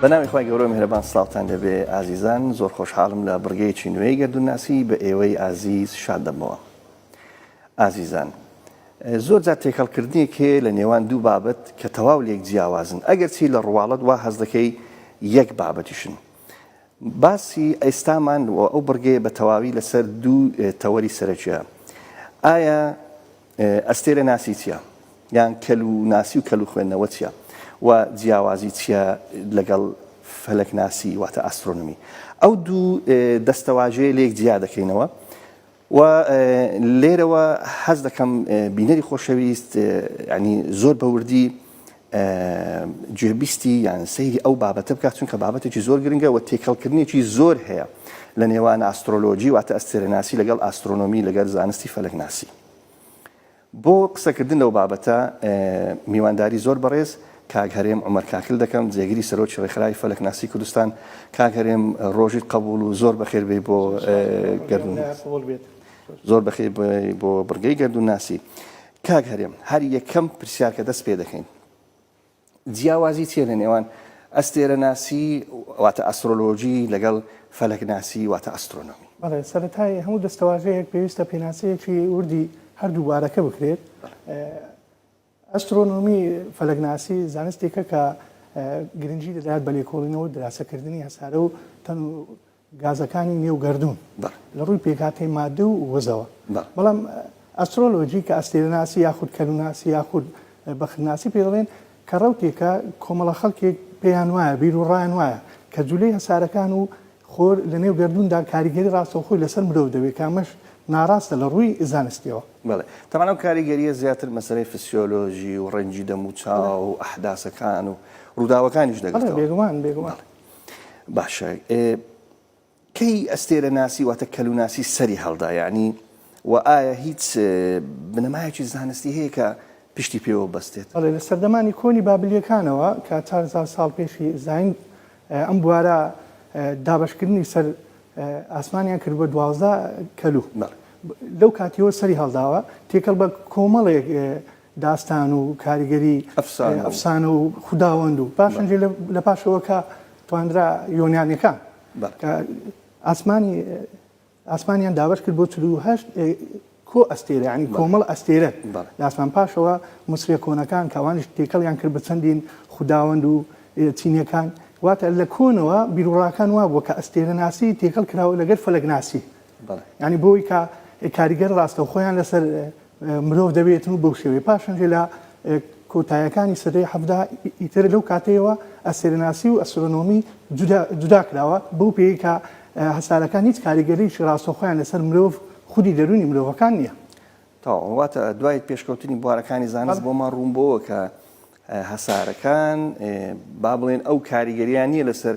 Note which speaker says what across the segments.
Speaker 1: بەناوی خخوای گەورە میهرەبان سلااوان دەبێ ئازیزان زۆر خۆشحاڵم لە بڕگەیەکی نوێی گەردونناسی بە ئێوەی ئازیز شاد دەبەوە ئازیزان زۆر جا تێکەڵکردنێک هەیە لە نێوان دوو بابەت کە تەواو لێک جیاوازن ئەگەر چی لە ڕواڵەت وا هەز دەکەی یەک بابەتیشن باسی ئەیستامان و ئەو بڕگەیە بە تەواوی لەسەر دوو تەوەری سەرەکیە ئایا ئەستێرە ناسی چیە؟ یان کەل و ناسی و کەل و خوێندنەوە چیە؟ و جیاوازی چیە لەگەڵ فەلەک ناسی واتە ئاسترۆنمی؟ ئەو دوو دەستەواژەیە لێک جیا دەکەینەوە و لێرەوە حەز دەکەم بینەری خۆشەویست ینی زۆر بەوردی گوێبیستی یان سەیری ئەو بابەتە بکات، چونکە بابەتێکی زۆر گرنگە و تێکەڵکردنێکی زۆر هەیە لە نێوان ئاسترۆلۆجی واتە ئەستێرەناسی لەگەڵ ئاسترۆنۆمی لەگەر زانستی فەلەکناسی. بۆ قسەکردن لەو بابەتە میوانداری زۆر بەڕێز کاک هەرێم عومەر کاکل دەکەم جێگری سەرۆکی ڕێکخراوی فەلەکناسی کوردستان. کاک هەرێم ڕۆژیت قەبوڵ و زۆر بەخێر بێی بۆ گەردوون. زۆر بەخێر بێی بۆ بڕگەی گەردوونناسی. کاک هەرێم هەر یەکەم پرسیار کە دەست پێ دەکەین جیاوازی چیە لە نێوان ئەستێرە ناسی واتە ئەسترۆلۆژی لەگەڵ فەلەک ناسی واتە ئەسترۆنۆمی بەڵێ سەرەتای
Speaker 2: هەموو دەستەواژەیەک پێویستە پێناسەیەکی وردی هەردوو بارەکە بکرێت ئەسترۆنۆمی فەلەگناسی زانستێکە کە گرنگی دەدات بە لێکۆڵینەوە دراسەکردنی هەسارە و تەن و گازەکانی نێو گەردوون لە ڕووی پێکهاتەی مادە و وزەوە بەڵام ئەسترۆلۆجی کە ئەستێرەناسی یاخود کەلوناسی یاخود بەختناسی پێ دەڵێن کە ڕەوتێکە کۆمەڵە خەڵکێک پێیان وایە بیر و ڕایان وایە کە جولەی هەسارەکان و خۆر لە نێو گردوندا کاریگەری ڕاستەوخۆی لەسەر مرۆڤ دەبێت کامەش ناڕاستە لە ڕووی زانستیەوە بڵێ تەمانەو
Speaker 1: کاریگەریە زیاتر مەسەرەی فسیۆلۆژی و ڕەنجی دەم و چاو و ئەحداسەکان و ڕووداوەکانیش دەگەڵ بێگومان بێگومان.
Speaker 2: باشە
Speaker 1: کەی ئەستێرە ناسی واتە کەلوناسی سەری هەڵدا یعنی و ئایا هیچ بنەمایەکی زانستی هەیە کە پشتی پێوە بەستێت بەڵێ لە سەردەمانی کۆنی
Speaker 2: بابلیەکانەوە کە چارزار ساڵ پێشی زین ئەم بوارە دابشکردنی سەر ئاسمانیان کرد بە دوازدە کەلو لەو کاتیەوە سەری هەڵداوە تێکەڵ بە کۆمەڵێک داستان و کاریگەری ئەفسانە و خوداوەند و پاشان جێ لە پاشەوە کە توانرا یۆنانیەکان کە ئاسمانی ئاسمانیان دابەش کرد بۆ چلو هەشت کۆ ئەستێرە ینی کۆمەڵ ئەستێرە لاسمان پاشەوە مسرە کۆنەکان کەوانش تێکەڵیان کرد بە چەندین خوداوەند و چینەکان واتە لە کۆنەوە بیرڕاکان وابووە کە ئەستێرە ناسی تێکەڵ کراوە لەگەر فەلەگناسی یانی بۆی کە کاریگەر ڕاستەوخۆیان لەسەر مرۆڤ دەبێتن و بەو شێوەیە پاشنجێ لە کۆتایەکانی سەدەی حەفدا ئیتر لەو کاتەیەوە ئەسێرناسی و ئەسرۆنۆمی جودا کراوە بەو پێی کە هەسارەکان هیچ کاریگەریی ڕاستەوخۆیان لەسەر مرۆڤ خودی دەرونی مرۆڤەکان نییە. تەواو واتە
Speaker 1: دوای پێشکەوتنی بوارەکانی زانست بۆمان ڕوون بۆوە کە هەسارەکان با بڵێن ئەو کاریگەریان نییە لەسەر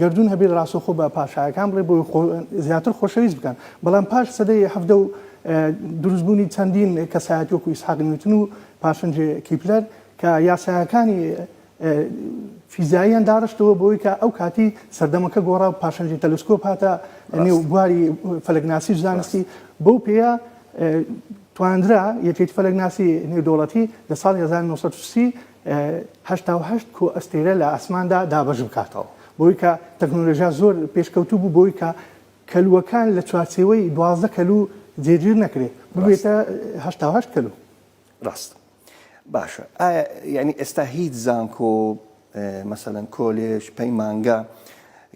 Speaker 2: گەردوون هەبێت ڕاستەوخۆ بە پاشایەکان بڵێت بۆی خۆ زیاتر خۆشەویست بکەن بەڵام پاش سەدەی حەڤدە و دروست بوونی چەندین کەسایەتی وەکو ئیسحاق نیوتن و پاشن جێ کیپلەر کە یاسایەکانی فیزیاییان داڕشتەوە بۆی کە ئەو کاتی سەردەمەکە گۆڕا و پاشنجی تەلسکۆپ هاتە نێو بواری فەلەکناسی زانستی بەو پێە تواندرا یەکێتی فەلەکناسی نێودەوڵەتی لە ساڵی 1930 هەشتا و هەشت کۆ ئەستێرە لە ئاسماندا دابەش بکاتەوە بۆی کە تەکنۆلۆژیا زۆر پێشکەوتوو بوو بۆی کە کەلوەکان لە چوارچێوەی دوازدە کەلو جێگیر نەکرێت ببێتە هەشتا و هەشت کەلو ڕاست
Speaker 1: باشە ئایا یعنی ئێستا هیچ زانکۆ مەسەەن کۆلێژ پەیمانگە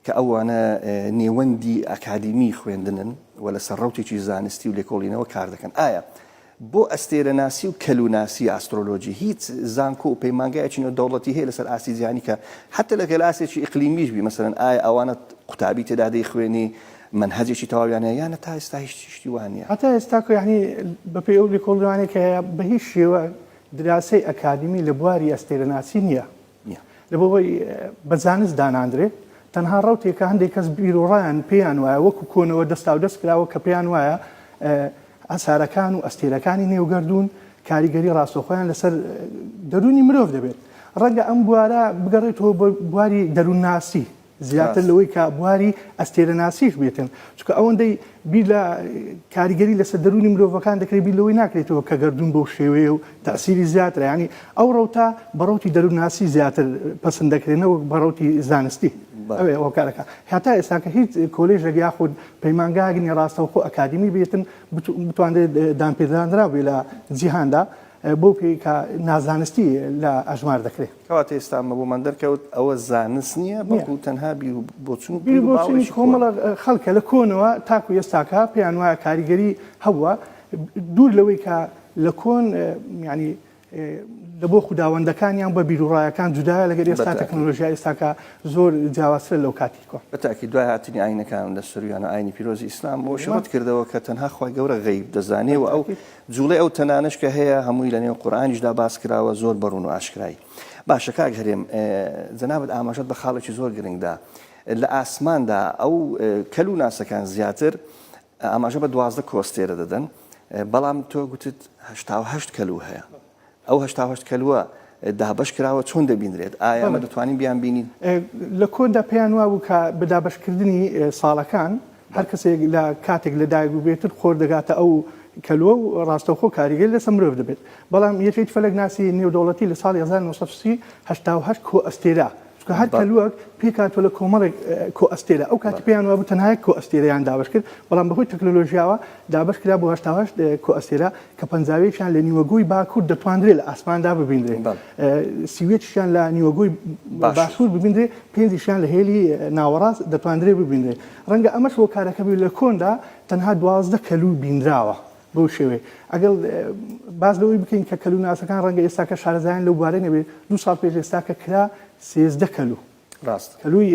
Speaker 1: کە ئەوانە نێوەندی ئەکادیمی خوێندنن و لەسەر ڕوتێکی زانستی و لێکۆڵینەوە کار دەکەن ئایا بۆ ئەستێرەناسی و کەلوناسی، ئاسترۆلۆجی، هیچ زانکۆ و پەیمانگایەکی نێودەوڵەتی هەیە لەسەر ئاستی جیهانی کە حەتە لەگەل ئاستێکی ئیقلیمیش بی مەسەلەن ئایا ئەوانە قوتابی تێدا دەیخوێنی مەنهەجێکی تەواویان هەیە یانە تا ئێستا هیچ شتی وا نیە. هەتا ئێستا کۆ یەعنی
Speaker 2: بەپێی ئەو لێکۆڵینەوانەی کە هەیە بەهیچ شێوە دراوسێی ئەکادیمی لە بواری ئەستێرەناسی نیە نیە. لەبەوەی بە زانست داناندرێت، تەنها ڕەوتێک کە هەندێک کەس بیروڕایان پێیان وایە وەکو کۆنەوە دەستاودەست کراوە کە پێیان وایە ئاسارەکان و ئەستێرەکانی نێو گەردوون کاریگەری ڕاستەوخۆیان لەسەر دەروونی مرۆڤ دەبێت. ڕەنگە ئەم بوارە بگەڕێتەوە بۆ بواری دەروونناسی. زیاتر لەوەی کە بواری ئەستێرەناسیش بێتن، چونکە ئەوەندەی بیر لە کاریگەری لەسەر دەروونی مرۆڤەکان دەکرێت بیر لەوەی ناکرێتەوە کە گەردوون بەو شێوەیە و تەئسیری زیاترە، یانی ئەو ڕەوتە بە ڕەوتی دەروونناسی زیاتر پەسند دەکرێت نەوەک بە ڕەوتی زانستی ئەوێ ئەوە کار دەکات. هەتا ئێستاکە هیچ کۆلێژێک یاخود پەیمانگایەک نیە ڕاستەوخۆ ئەکادیمی بێتن بتوانرێت دانپێدانراو بێت لە جیهاندا، بەو پێی کە نازانستی لە ئەژمار دەکرێت. کەواتە ئێستا ئەمە بۆمان
Speaker 1: دەرکەوت ئەوە زانست نییە بەڵکو تەنها بیر و بۆچون و بیر و باوەڕێکی
Speaker 2: کۆن. کۆمەڵە خەڵکە لە کۆنەوە تاکو ئێستاکە پێیان وایە کاریگەری هەبووە دوور لەوەی کە لە کۆن یانی لە بۆ خوداوەندەکانیان بە بیروڕایەکان جودایە لەگەر ئێستا بەتاکی. تەکنۆلۆژیای ئێستاکە زۆر جیاوازترە لەو کاتی کۆن. بەتاکی دوای هاتنی
Speaker 1: ئاینەکان لە سرویان و ئاینی پیرۆزی ئیسلام ئەوەشی ڕەت کردەوە کە تەنها خوای گەورە غەیب دەزانێ و ئەو بەتاکی. جوڵەی ئەو تەنانەش کە هەیە هەمووی لە نێو قورئانیشدا باس کراوە زۆر بە ڕوون و ئاشکرای باشە کاک هەرێم جەنابت ئاماژەت بە خاڵێکی زۆر گرنگدا لە ئاسماندا ئەو کەل و ناسەکان زیاتر ئاماژە بە دوازدە کۆستێرە دەدەن بەڵام تۆ گوتت هەشتا و هەشت کەلو هەیە ئەو هەشتا و هەشت کەلوە دابەش کراوە چۆن دەبینرێت؟ ئایا ئەمە دەتوانین بیان بینین؟ لە کۆندا
Speaker 2: پێیان وابوو کە بە دابەشکردنی ساڵەکان هەر کەسێک لە کاتێک لە دایک بووبێتر خۆر دەگاتە ئەو کەلوە و ڕاستەوخۆ کاریگەری لەسەر مرۆڤ دەبێت. بەڵام یەکێتی فەلەکناسی نێودەوڵەتی لە ساڵی هەزار و نۆ سەد و سی هەشتا و هەشت کۆئەستێرە، چونکە هەر کەلوەک پێک هاتووە لە کۆمەڵێک کۆئەستێرە، ئەو کاتی پێیان وابوو تەنها یەک کۆئەستێرەیان دابەش کرد، بەڵام بەهۆی تەکنەلۆژیاوە دابەش کرا بۆ هەشتا و هەشت کۆئەستێرە کە پەنجاویەکیان لە نیوەگۆی باکوور دەتواندرێ لە ئاسماندا ببینرێ، سی و یەکیشیان لە نیوەگۆی باشوور ببینرێ، پێنجیشیان لە هێلی ناوەڕاست دەتواندرێ ببینرێ. ڕەنگە ئەمەش هۆکارەکە بێ لە کۆندا تەنها دوازدە کەلوو بینراوە. بەو شێوەیە ئەگەر باس لەوەی بکەین کە کەلووناسەکان ڕەنگە ئێستاکە شارەزایان لەو بوارەی نەبێت، دوو ساڵ پێش ئێستا کە کرا سێزدە کەلوو، ڕاستە کەلووی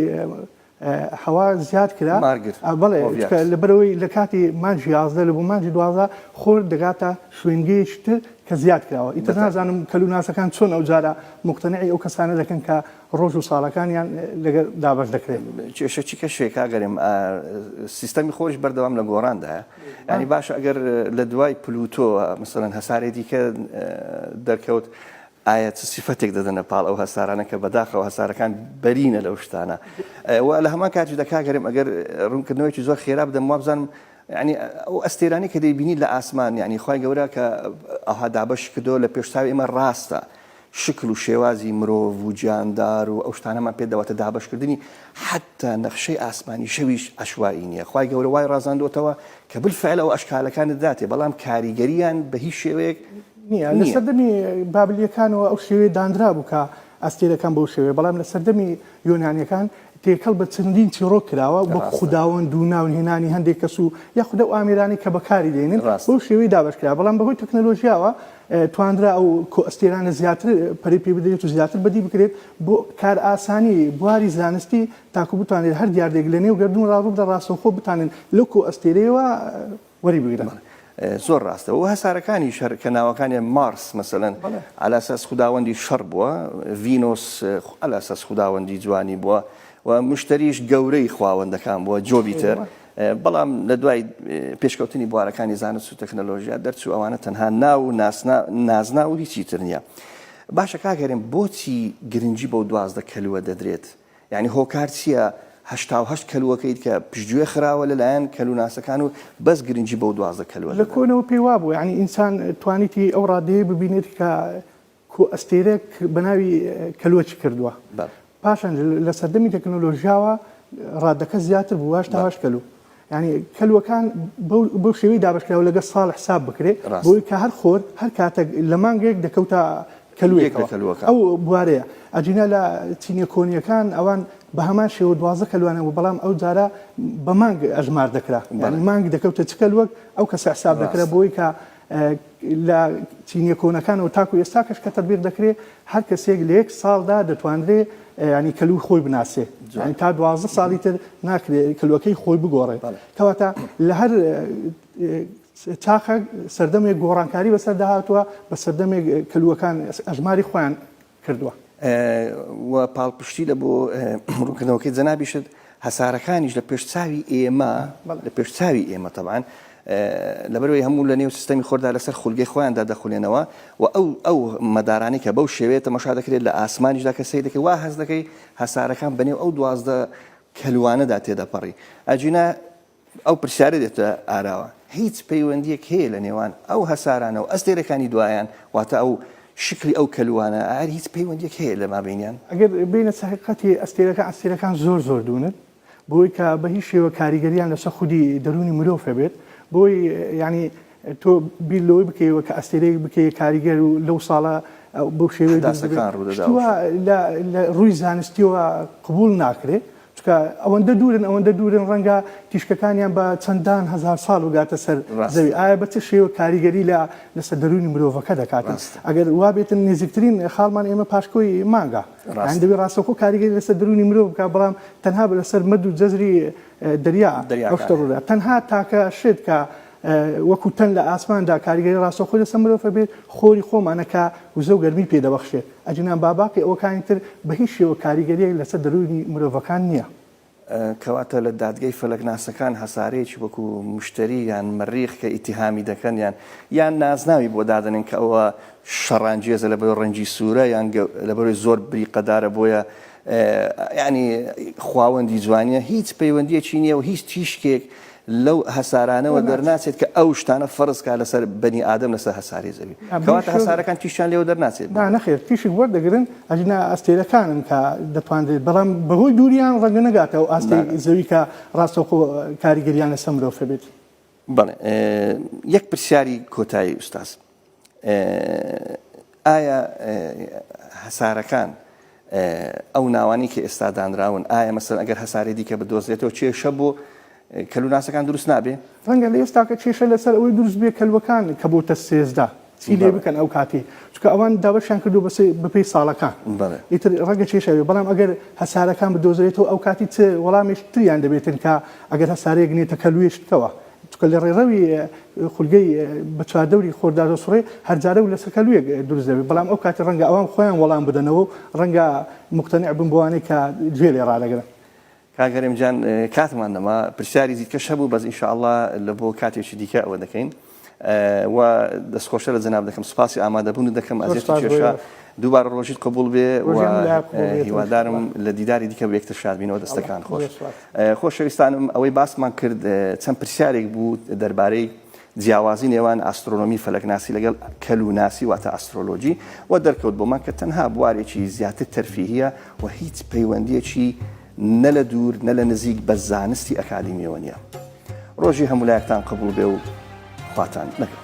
Speaker 2: هەوا زیاد کرا، مارگرت، ئا بەڵێ ئۆڤیات. چونکە لەبەرئەوەی لە کاتی مانگی یازدە لە بۆ مانگی دوازدە خۆر دەگاتە شوێنگەیەکی تر کە زیاد کراوە، ئیتر دەتابێت. نازانم کەلووناسەکان چۆن ئەوجارە موقتەنعی ئەو کەسانە دەکەن کە ڕۆژ و ساڵەکانیان لەگەر دابەش دەکرێت. کێشە چی کەشێ
Speaker 1: کاگەرێم سیستەمی خۆش بەردەوام لە گۆڕاندایە ینی باشە ئەگەر لە دوای پلوتۆ مثلەن هەسارێ دیکە دەرکەوت ئایا چ سیفەتێک دەدەنە پاڵ ئەو هەسارانە کە بەداخەوە هەسارەکان بەرینە لەو شتانە و لە هەمان کاتی دەکاگەرم ئەگەر ڕوونکردنەوەی زۆر خێرا بدەم وابزانم ینی ئەو ئەستێرانی کە دەیبینی لە ئاسمان ینی خی گەورە کە ئەها دابەش کردو لە پێشتاوی ئمە ڕاستە شکل و شێوازی مرۆڤ و جاندار و ئەو شتانەمان پێ دەواتە دابەشکردنی حەتتا نەخشەی ئاسمانی شەویش عەشوائی نیە خوای گەورە وای ڕازاندۆتەوە کە بالفعل ئەو ئەشکالەکانت داتێ بەڵام کاریگەریان بە هیچ شێوەیەک نیە لە سەردەمی
Speaker 2: بابلیەکانەوە ئەو شێوەیە دانرابوو کە ئەستێرەکان بەو شێوەیە بەڵام لە سەردەمی یۆنانیەکان تێکەڵ بە چەندین چیڕۆک کراوە وەک خوداوەند و ناو هێنانی هەندێک کەس و یاخود ئەو ئامێرانەی کە بەکاری دێنن بەو شێوەی دابەش کرا بەڵام بەهۆی تەکنەلۆژیاوە توانرا ئەو کۆئەستێرانە زیاتر پەرەی پێ بدرێت و زیاتر بەدی بکرێت بۆ کارئاسانی بواری زانستی تاکو بتوانرێت هەر دیاردەیەک لەنێو گەردوونڕا ڕووبدە ڕاستەوخۆ بتوانن لەو کۆئەستێرەیەوە وەری بگرن. زۆر ڕاستە
Speaker 1: و هەسارەکانیش هەر کە ناوەکانیان مارس مەسەلەن عەلی ئەساس خوداوەندی شەڕ بووە، ڤینۆس عەلی ئەساس خوداوەندی جوانی بووە و مشتەریش گەورەی خواوەندەکان بووە، جۆبیتەر بەڵام لە دوای پێشکەوتنی بوارەکانی زانست و تەکنەلۆژیا دەرچوو ئەوانە تەنها ناو و نازنا و هیچی تر نییە. باشە کاک هەرێم بۆچی گرنگی بەو دوازدە کەلوە دەدرێت؟ یانی هۆکار چییە هەشتا و هەشت کەلوەکەیت کە پشتگوێ خراوە لەلایەن کەلوناسەکان و بەس گرنگی بەو دوازدە کەلوە دەدرێت؟ لە کۆنەوە پێی وابووە
Speaker 2: یانی ئینسان توانیتی ئەو ڕادەیەی ببینێت کە کۆ ئەستێرەێک بە ناوی کەلوەچی کردووە پاشان لە سەردەمی تەکنۆلۆژیاوە ڕادەکە زیاتر بوو واش تاواش کەلو ینی کەلوەکان بەو شێوی دابشکراوە لەگە ساڵ حساب بکرێت بۆی کە هەر خۆر هەر کاتە لە مانگێک دەکەوتە کەلوەکە ئەو بوارەیە ئەجینا لە چینە کۆنیەکان ئەوان بە هەمان شێوە دوازە کەلوانە بوو بەڵام ئەو جارە بە مانگ ئەژمار دەکرا مانگ دەکەوتە چکەل وەک ئەو کەسە حساب دەکرا بۆی کە لە چینیە کۆنەکانەوە تاکو ئێستاکەش کە تەتبیق دەکرێ هەر کەسێک لە یەک ساڵدا دەتوانرێ یانی کەلوی خۆی بناسێ یانی تا دوازدە ساڵی تر ناکرێ کەلوەکەی خۆی بگۆڕێ کەواتە لە هەر چاخە سەردەمێک گۆڕانکاری بەسەردا هاتووە بە سەردەمێک کەلوەکان ئەژماری خۆیان کردووە
Speaker 1: و پاڵپشتی لە بۆ ڕوونکردنەوەکەی جەنابیشت هەسارەکانیش لە پێش چاوی ئێمە لە پێش چاوی ئێمە تەبان لەبەرەوەی هەموو لە نێو سیستەمی خۆردا لەسەر خولگەی خۆیاندا دەخولێنەوە و ئەو ئەو مەدارانی کە بەو شێوەیە تەمەشا دەکرێت لە ئاسمانیشدا کە سەی دەکەی وا هەز دەکەی هەسارەکان بەنێو ئەو دوازدە کەلوانەدا تێدەپەڕی ئەجینا ئەو پرسیارە دێتە ئاراوە، هیچ پەیوەندییەک هەیە لە نێوان ئەو هەسارانە و ئەستێرەکانی دوایان، واتە ئەو شکلی ئەو کەلوانە، ئایا هیچ پەیوەندییەک هەیە لە مابەینیان؟ ئەگەر بێینە سەر
Speaker 2: حەقیقەتی ئەستێرەکان، ئەستێرەکان زۆر زۆر دوورن بۆی کە بە هیچ شێوە کاریگەرییان لەسەر خودی دەروونی مرۆڤ هەبێت، بۆی یانی تۆ بیر لەوەی بکەیەوە کە ئەستێرەیەک بکەیە کاریگەر و لەو ساڵە بەو شێوەیە دروست بێت، حداثەکان ڕوو دەدا و شتوە شتوە. لە لە ڕووی زانستییەوە قبووڵ ناکرێ، چونکە ئەوەندە دوورن ئەوەندە دوورن ڕەنگە تیشکەکانیان بە چەندان هەزار ساڵ بگاتە سەر زەوی، ڕاستە. ئایا بە چ شێوە کاریگەری لە لەسەر دەروونی مرۆڤەکە دەکاتن؟ ڕاستە. ئەگەر وا بێتن نێزیکترین خاڵمان ئێمە پاشکۆی مانگە، یانی ڕاستە. دەبێ ڕاستەوخۆ کاریگەری لەسەر دەروونی مرۆڤ بکا، بەڵام تەنها لەسەر مەد و جەزری دەریا ئەو شتە دەریاکان. ڕوو دەدات. تەنها تاکە شت کە وەکو تەن لە ئاسماندا کاریگەری ڕاستەوخۆی لەسەر مرۆڤ هەبێت، خۆری خۆمانە کە وزە و گەرمی پێ دەبەخشێت، ئەگینا باباقی ئەوەکانی تر بە هیچ شێوە کاریگەرییەک لەسەر دەروونی مرۆڤەکان نییە. کەواتە
Speaker 1: لە دادگای فەلەکناسەکان هەسارەیەکی وەکو مشتەری یان مەریخ کە ئیتیهامی دەکەن یان یان نازناوی بۆ دادەنێن کە ئەوە شەڕانگێزە لەبەرەوەی ڕەنگی سوورە یان لەبەرەوەی زۆر بریقەدارە بۆیە یانی خواوەندی جوانیە هیچ پەیوەندیەکی نییە و هیچ تیشکێک لەو هەسارانەوە دەرناچێت کە ئەو شتانە فەرزکە لەسەر بەنی ئادەم لەسەر هەساری زەوی کەواتە هەسارەکان تیشان لێو دەرناچێت نەخێر تیشک
Speaker 2: وەردەگرن ئەجنا ئەستێرەکانن کە دەتوانرێت بەڵام بەهۆی دووریان ڕەنگە نەگاتە و ئاستی زەوی کە ڕاستەوخۆ کاریگەریان لەسەر مرۆڤ بێت بەڵێ
Speaker 1: یەک پرسیاری کۆتایی ئوستاز ئایا هەسارەکان ئەو ناوانی کە ئێستا دانراون ئایا مەسەر ئەگەر هەسارێ دیکە بدۆزرێتەوە کێشە بۆ کەلوناسەکان دروست نابێ ڕەنگە لە ئێستاکە
Speaker 2: کێشە لەسەر ئەوەی دروست بێ کەلوەکان کە بۆتە سێزدە چی لێ بکەن ئەو کاتێ چکە ئەوان دابەشیان کردو بەسێ بەپی ساڵەکان ئیتر ڕەنگە کێشەوێ بەڵام ئەگەر هەسارەکان بدۆزرێتەوە ئەو کاتی چ وەڵامێش تریان دەبێتن کە ئەگەر هەسارەیەک نێتە کەلوێشتەوە چونکە لە ڕێڕەوی خولگەی بە چواردەوری خۆردا دەسوڕێ، هەر جارە و لە سەرکەلوویەک دروست دەبێ، بەڵام ئەو کاتە ڕەنگە ئەوان خۆیان وەڵام بدەنەوە و ڕەنگە موقتەنع بن بەوانەی کە گوێ لێ ڕادەگرن. کاک هەرێم جان
Speaker 1: کاتمان نەما پرسیاری دیکەش هەبوو بەس ان شاءاللە لە بۆ کاتێکی دیکە ئەوە دەکەین و دەست خۆش لە جەناب دەکەم سوپاسی ئامادەبوونت دەکەم زۆر ئەزیەت و سوپاس بۆ کێشە ئێوەش. دووبارە ڕۆژیت قبوڵ بێ و ڕۆژی هەموو لایەک قبوڵ بێت ان هیوادارم شاءاللە. لە دیداری دیکە بە یەکتر شاد بینەوە دەستەکان خۆش. زۆر سوپاس. خۆشەویستانم ئەوەی باسمان کرد چەند پرسیارێک بوو دەربارەی جیاوازی نێوان ئاسترۆنۆمی فەلەکناسی لەگەڵ کەلوناسی واتە ئاسترۆلۆجی و دەرکەوت بۆمان کە تەنها بوارێکی زیاتر تەرفیهیە و هیچ پەیوەندیەکی نە لە دوور نە لە نزیک بە زانستی ئەکادیمیەوە نیە ڕۆژی هەمولایەکتان قبول بێ و خواتان نەگەڵ